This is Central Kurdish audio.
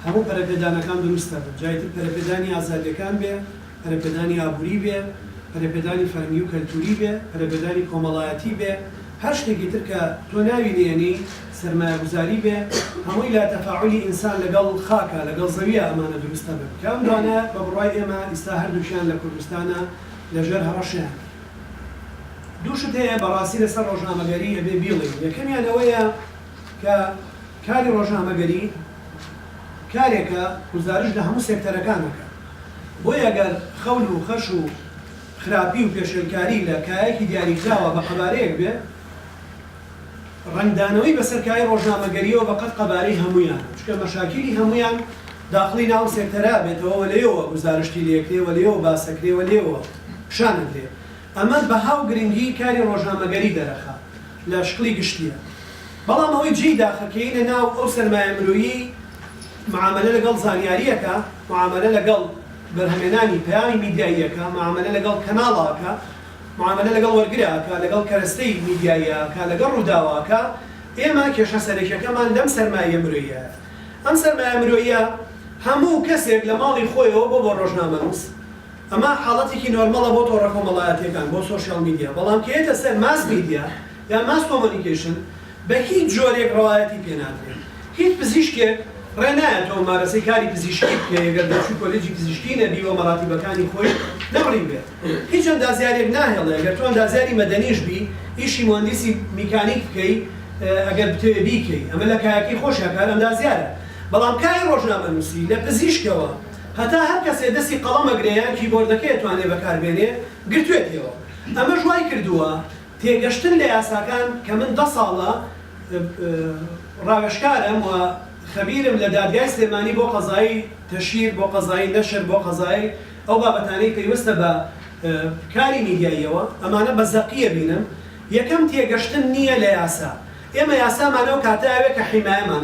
هەموو پەرەپێدانەکان دروستە، جا ئیتر پەرەپێدانی ئازادییەکان بێ، پەرەپێدانی ئابووری بێ، پەرەپێدانی فەرهەنگی و کەلتووری بێ، پەرەپێدانی کۆمەڵایەتی بێ، هەر شتێکی تر کە تۆ ناوی نێنی، سەرمایەگوزاری بێ، هەمووی لە تەفاعولی ئینسان لەگەڵ خاکە، لەگەڵ زەوییە ئەمانە دروست ئەبن، کە ئەم دوانە بە بڕوای ئێمە ئیستا هەردووکیان لە کوردستانە لەژێر هەڕەشەیان. دوو شت هەیە بە ڕاستی لەسەر ڕۆژنامەگەری ئەبێ بیڵێین، یەکەمیان ئەوەیە، کە کاری ڕۆژنامەگەری کارێکە گوزارشت لە هەموو سێکتەرەکان دەکات، بۆیە گەر خەون و خەش و خراپی و پێشێلکاری لە کایەکی دیاریکراوە بە قەبارەیەک بێت، ڕەنگدانەوەی بەسەر کایەی ڕۆژنامەگەرییەوە بە قەد قەبارەی هەموویانە، چونکە مەشاکیلی هەموویان داخڵی ناو ئەم سێکتەرە ئەبێتەوە و لێیەوە گوزارشتی لێ ئەکرێ و لێیەوە باس ئەکرێ و لێیەوە پیشان ئەدرێ. ئەمە بەها و گرنگیی کاری ڕۆژنامەگەری دەرەخە لە شکڵی گشتییە، بەڵام ئەوەی جێی داخە کە یەینە ناو ئەو سەرمایە مرۆییەی مەعامەلە لەگەڵ زانیاری ئەکا، مەعامەلە لەگەڵ بەرهەمێنانی پەیامی میدیایی ئەکا، مەعامەلە لەگەڵ کەناڵە ئەکا، مەعامەلە لەگەڵ وەرگرە ئەکا، لەگەڵ کەرەستەی میدیاییە ئەکا، لەگەڵ ڕووداوە ئەکا، ئێمە کێشە سەرەکییەکەمان لەم سەرمایە مرۆییایە. ئەم سەرمایە مرۆییە هەموو کەسێک لە ماڵی خۆیەوە بۆ بۆ ڕۆژنامەنووس، ئەمە حاڵەتێکی نۆرمەڵە بۆ تۆڕە کۆمەڵایەتییەکان، بۆ سۆشیاڵ میدیا، بەڵام کە یەتە سەر ماس میدیا یان ماس کۆمۆنیکەیشن بە هیچ جۆرێک ڕەوایەتی پێ نادرێت. هیچ پزیشکێک ڕێ نایە تۆ ممارەسەی کاری پزیشکی بکەی ئەگەر دەرچووی کۆلێجی پزیشکی نەبی و مەراتیبەکانی خۆی نەبڕیبێ. هیچ ئەندازیارێک ناهێڵێ ئەگەر تۆ ئەندازیاری مەدەنیش بی ئیشی موەندیسی میکانیک بکەی ئەگەر بتەوێ بیکەی. ئەمە لە کایەکەی خۆشیا کار ئەندازیارە بەڵام کاری ڕۆژنامەنووسی لە پزیشکەوە هەتا هەر کەسێ دەستی قەڵەم ئەگرێ یان کیبۆردەکەی ئەتوانێ بەکاربێنێ گرتوێتیەوە ئەمەش وای کردووە تێگەشتن لە یاساکان کە من دە ساڵە ڕاوێژکارم و خەبیرم لە دادگای سلێمانی بۆ قەزایی تەشیر بۆ قەزایی نەشر بۆ قەزایی ئەو بابەتانەی پەیوەستە بە کاری میدیاییەوە ئەمانە بە زەقی ئەبینم یەکەم تێگەشتن نییە لە یاسا ئێمە یاسامان ئەو کاتە ئەوێ کە حیمایەمان